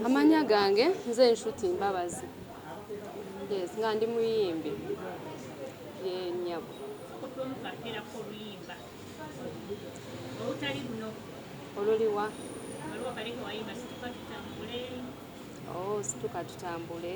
amanya gange nze nshuti mbabazi yes nga ndi muyimbi yenyabo oluliwa oh, situka tutambule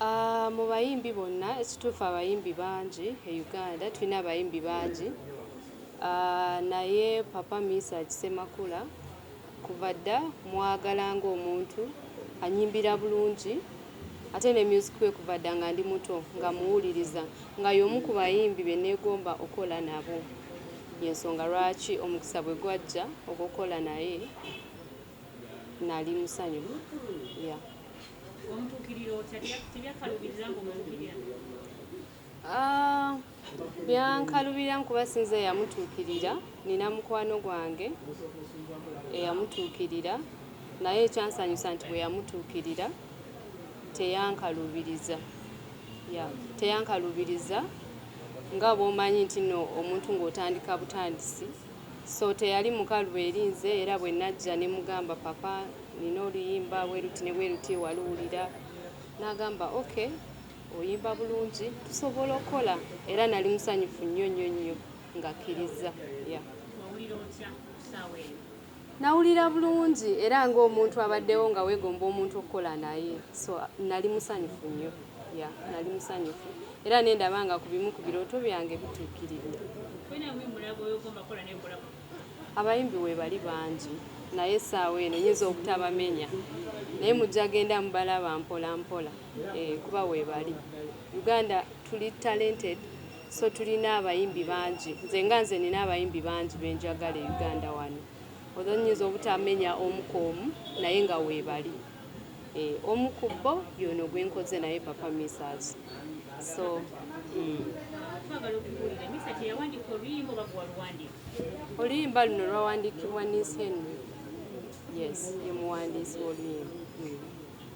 Aah mu bayimbi bonna ekituufu abayimbi bangi e Uganda tulina abayimbi bangi aah naye Papa Mesach Ssemakula kuva dda mmwagala ng'omuntu annyimbira bulungi ate ne myuziki we kuva dda nga ndi muto nga mmuwuliriza nga y'omu ku bayimbi be nneegomba okukola nabo y'ensonga lwaki omukisa bwe gwajja ogw'okukola naye nali musanyu yeah. Ah, byankalubira nkuba sinza yamutuukirira nina mukwano gwange eyamutuukirira naye ekyansanyusa nti bwe yamutuukirira teyankalubiriza yeah. teyankalubiriza nga bwomanyi nti no omuntu ng'otandika butandisi So teyali mukalu eri nze era bwe najja ne mugamba papa nina oluyimba bweruti ne bweruti waluwulira? N'agamba ok oyimba bulungi tusobola okukola era nali musanyufu nnyo nnyo nnyo ng'akkirizza yeah. Wewulira otya ku ssaawa eno? Nawulira bulungi era ng'omuntu abaddewo nga weegomba omuntu okukola naye so nali musanyufu nnyo yeah, nali musanyufu era ne ndaba nga ku bimu ku birooto byange bituukiridde. Abayimbi weebali bangi naye essaawa eno nyinza obutabamenya naye mujja genda mubalaba mpola mpola eh, kuba weebali. Uganda tuli talented. So tulina abayimbi bangi. Nze nga nze nina abayimbi bangi be njagala e Uganda wano. Although nnyinza obutamenya omu ku omu naye nga weebali. Eh, omu ku bo y'ono gwe nkoze naye Papa Misach. So, mm. Twagala okubuulira Misach eyawandiika oluyimba oba gwe waluwandiika? Oluyimba luno lwawandiikibwa Niece Henry. Yes, ye muwandiisi w'oluyimba. Mm.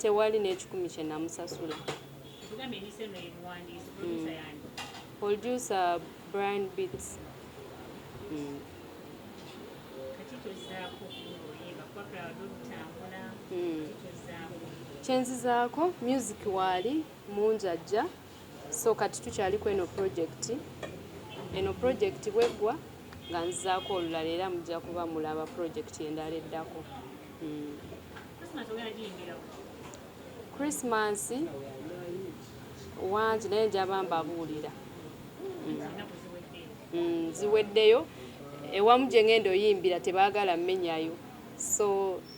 tewali n'ekikumi kye namusasula. Poldyusa Brian Beats. Kyenzizaako music waali mungi ajja. So kati tukyali kweno project. Eno project bweggwa nga nzizaako olulala era mujja kuba mulaba project endala eddako. Christmas wangi naye njaba mbabuulira. Ziweddeyo. Ewamu gye ngenda oyimbira tebagala menyayo so.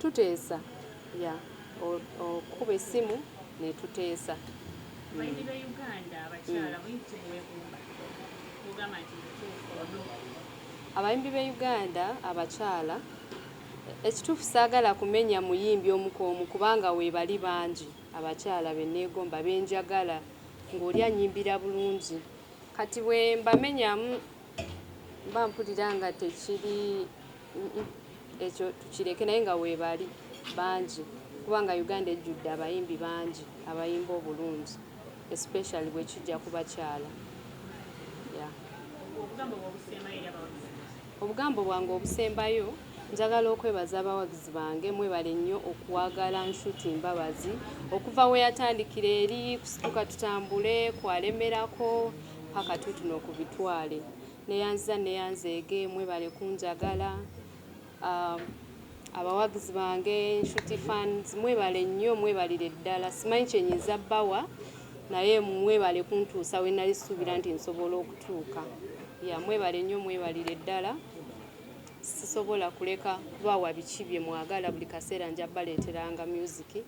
Tuteesa ya okukuba essimu ne tuteesa. Balimi b'e Uganda abakyala muyinza ki kubeegomba n'ogamba nti mutuufu or no? Abayimbi b'e Uganda abakyala, Ekituufu saagala kumenya muyimbi omu ku omu kubanga weebali bangi abakyala be nneegomba be njagala ng'oli annyimbira bulungi. Kati bwe mbamenyamu Mba mpulira nga tekiri ekyo tukireke naye nga weebali bangi kubanga Uganda ejjudde abayimbi bangi abayimba obulungi especially bwe kijja ku bakyala. Obugambo bwange obusembayo njagala okwebaza abawagizi bange mwebale nnyo okuwagala Nshuti Mbabazi okuva we yatandikira eri kusituka tutambule kwalemerako. Paka tutuno ku bitwale. Neyanziza neyanzeege mwebale kunjagala abawagizi bange nshuti fans mwebale nnyo mwebalire ddala simanyi kyenyiza bawa naye mwebale kuntuusa wenali suubira nti nsobola okutuuka ya mwebale nnyo mwebalire ddala sisobola kuleka kubawa biki byemwagala buli kaseera nja baleeteranga myuziki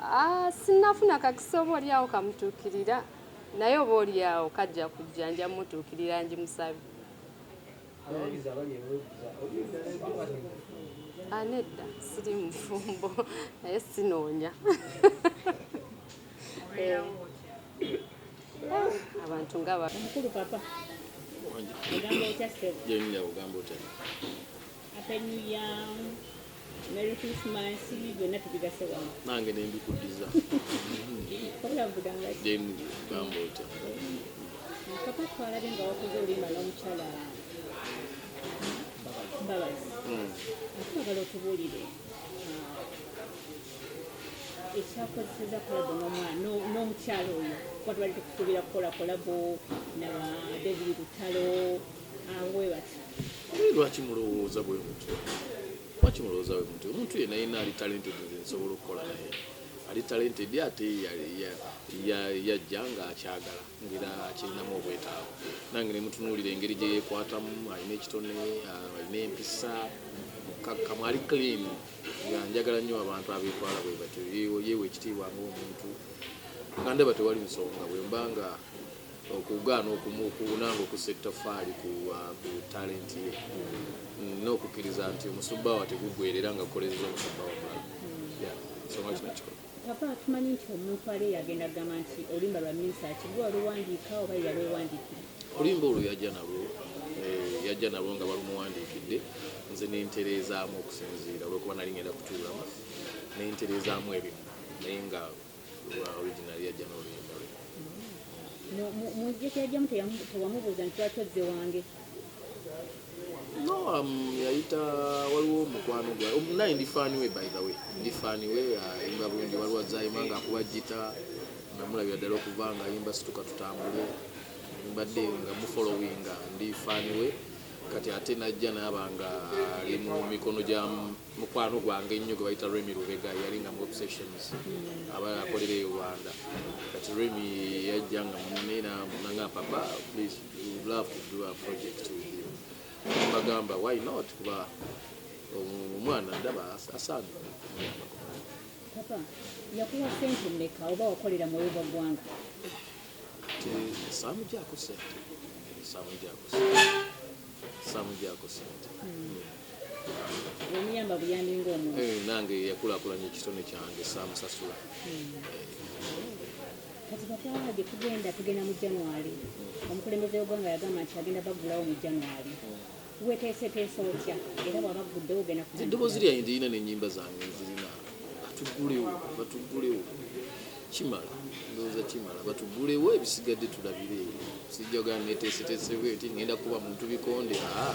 Ah, sinnafuna kakisa oba oli awo kamutuukirira naye oba oli awo kajja kujja nja mutuukirira ngimusabe. Abawagizi abali e Lweza oli eddala eddwaliro? Ah, nedda siri mufumbo naye sinoonya. Eh. Eh, abantu nga ba omukulu papa ogamba otya sebo gyenyinda ogamba otya apenyuya Merry Christmas byonna tubigase wamu. Nange ne mbikuddiza. Wabula mvuga nga ki? Then gamba otya? Papa twalabe nga wakoze olimba n'omukyala Mbabazi. Hmm. Atwagala otubuulire ah, ekyakozeseza kolabo n'omukyala oyo kuba tubadde tukusuubira kukola kolabo na David Lutalo lwaki mulowooza bwe mutyo lwaki mulowooza bwe mutyo omuntu yena yena ali talented nze nsobola okukola naye ali talented ate yajja nga akyagala ngera akirinamu obwetaavu nange nemutunuulira engeri gye yekwatamu alina ekitone alina empisa mukakkamu ali clean nga njagala nnyo abantu abetwala bwe batyo yeewa ekitiibwa ngaomuntu nga ndaba tewali nsonga bwemba nga okugaana okumukuuna ng'okussa ettoffaali ku uh, talenti ye mm, n'okukkiriza nti omusubba wa teguggwerera nga kukolereza omusubba wa mulala nsonga kino kikulu papa tumanyi nti omuntu ali yagenda kugamba nti olimba lwa minsa kigwe waluwandiika oba yalwewandiikira olimba olwo yajja nalwo eh, yajja nalwo nga balumuwandiikidde nze nentereezaamu okusinziira olwokuba nali ngenda kutuulamu nentereezaamu ebimu naye nga yayita waliwo mukwano gwa naye ndi fani we by the way ndi fani we ayimba uh, bulungi waliwo azayima nga akuba jita namulabira ddala okuva nga ayimba situka tutambule mbadde nga mufolowinga ndi fani we kati ate najja naaba nga ali mu mikono gya mukwano gwange ennyo gwe bayita Remy Lubega yali nga mu obsessions aba akolera e Rwanda kati Remy yajja nga munne nanga papa please we would love to do a project with you bagamba why not kuba omwana ndaba asaana papa yakuwa sente mmeka oba wakolera mu oba ggwanga samujako sente samujako sente omuyamba buyambi ngaomuntu eh, nange yakulakulanya ekitone kyange samusasula hmm. kati bakwala gye tugenda tugenda mu january hmm. omukulembeze w'eggwanga yagamba nti agenda baggulawo mu january hmm. weteeseteesa otya era bwaba guddewo ogenda eddoboozi lyange lirina n'ennyimba zange zirina batuggulewo batuggulewo kimala ndowooza kimala batugulewo ebisigadde tulabire sijjagala neteeseteesebweti ngenda kuba muntu bikonde aa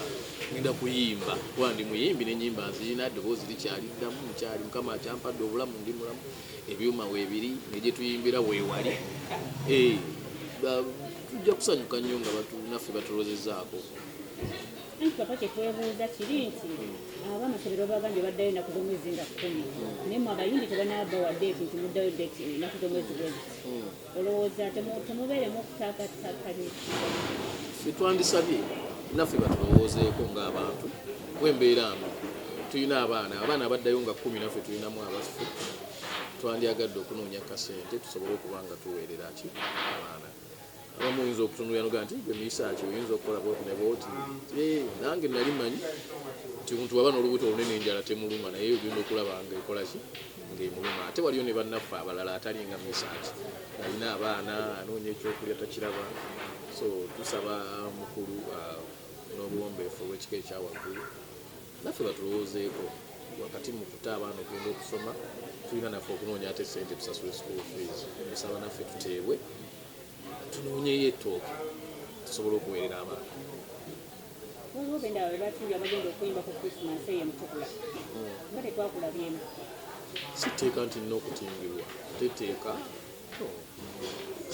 ngenda kuyimba kuba ndi muyimbi nenyimba nzirina eddoboozi likyali ddamu mukyali mukama akyampadde obulamu ndi mulamu ebyuma weebiri negyetuyimbira weewali eh, tujja kusanyuka nnyo nga naffe batulozezaako anti papa kyetwebuuza kiri nti aba amasomero bagambye baddayo enaku z'omwezi nga kkumi naye mwe abayindi tebanaba wa deeti nti muddayo deeti enaku z'omwezi bwezi hmm. olowooza temubeeremu okutakatakanye sitwandisabye naffe batulowoozeeko ng'abantu wembeera mbi tulina abaana abaana abaddayo nga kkumi naffe tulinamu abaffe twandyagadde okunoonya kasente tusobole okuba nga tuweerera ki abaana abamu oyinza okutunulira noga nti gwe miyisa ki oyinza okukola bwoti ne bwoti eh, nange nali manyi nti omuntu waba n'olubuto olunene enjala temuluma naye ogenda okulaba nga ekola ki ngaemuluma ate waliyo ne bannaffe abalala atali nga miyisa ki alina abaana anoonya ekyokulya takiraba so tusaba mukulu uh, n'obuwombeefu olw'ekika ekyawaggulu naffe batulowoozeeko wakati mu kuta abaana okugenda okusoma tulina naffe okunoonya ate sente tusasule school fees esaba naffe tuteebwe tunoonyeyo ettooke tusobola okuweerera abaana waliwo benda abe batuuya bagenda okuyimba ku christmas eyo mutukula nga tetwakulabyemu siteeka nti nina okutimbirwa teteeka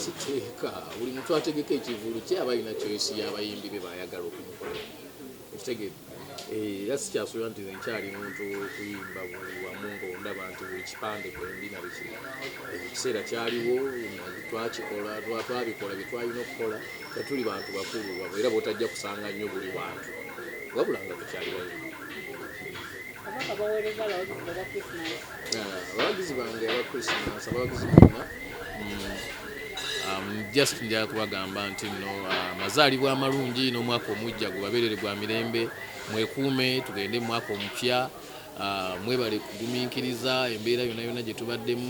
siteeka buli muntu ategeka ekivulu kye aba alina kyoyisi y'abayimbi be baayagala okumukola okitegere eh, era sikyasuubira nti nkyali muntu kuyimba buli wamu ngaondaba nti buli kipande kwendi nabiki ekiseera kyaliwo twakikola twabikola byetwalina okukola tetuli bantu bakulu era botajja kusanga nnyo buli wantu wabula nga tukyali bayimbi Kabaka baweereza abawagizi be aba Christmas. Ah, abawagizi bange aba Christmas abawagizi bonna mm, um, just nja kubagamba nti no ah, mazaalibwa amalungi n'omwaka omujja gubabeerere gwa mirembe mwekuume tugende mwaka omupya ah, mwebale kugumiikiriza embeera yonna yonna gye tubaddemu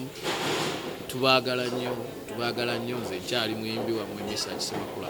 tubaagala nnyo tubaagala nnyo nze nkyali muyimbi wammwe misa kisemakula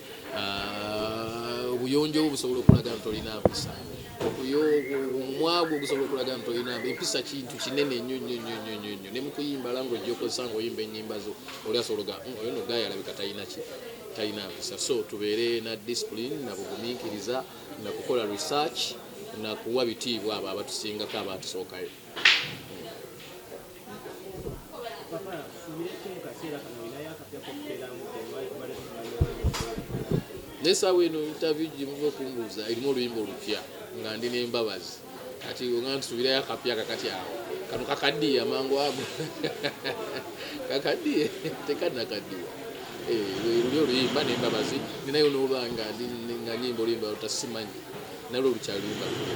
ah, obuyonjo bwo busobola okulaga nti olina mpisa omwagwo ogusobola okulaga nti olina empisa kintu kinene nnyo nnyo nnyo nnyo nnyo nnyo ne mu kuyimba lango ojjokozesa nga oyimba ennyimba zo oli asobola oga hmm, oyo no gayi alabika talina ki talina mpisa so tubeere na discipline na bugumiikiriza na kukola research na kuwa bitiibwa abo abatusingako abaatusookayo naye saawa eno interview gyemuva okumbuuza erimu oluyimba olupya nga ndi nembabazi kati nga ntusubirayo akapya kakati awo kano kakaddiye amangu ago kakaddiye tekanakaddiwa eh, luli oluyimba nembabazi ninayo nolwanga nga nyimba oluyimba lutasimanyi nalwo lukyaluyimba lulwe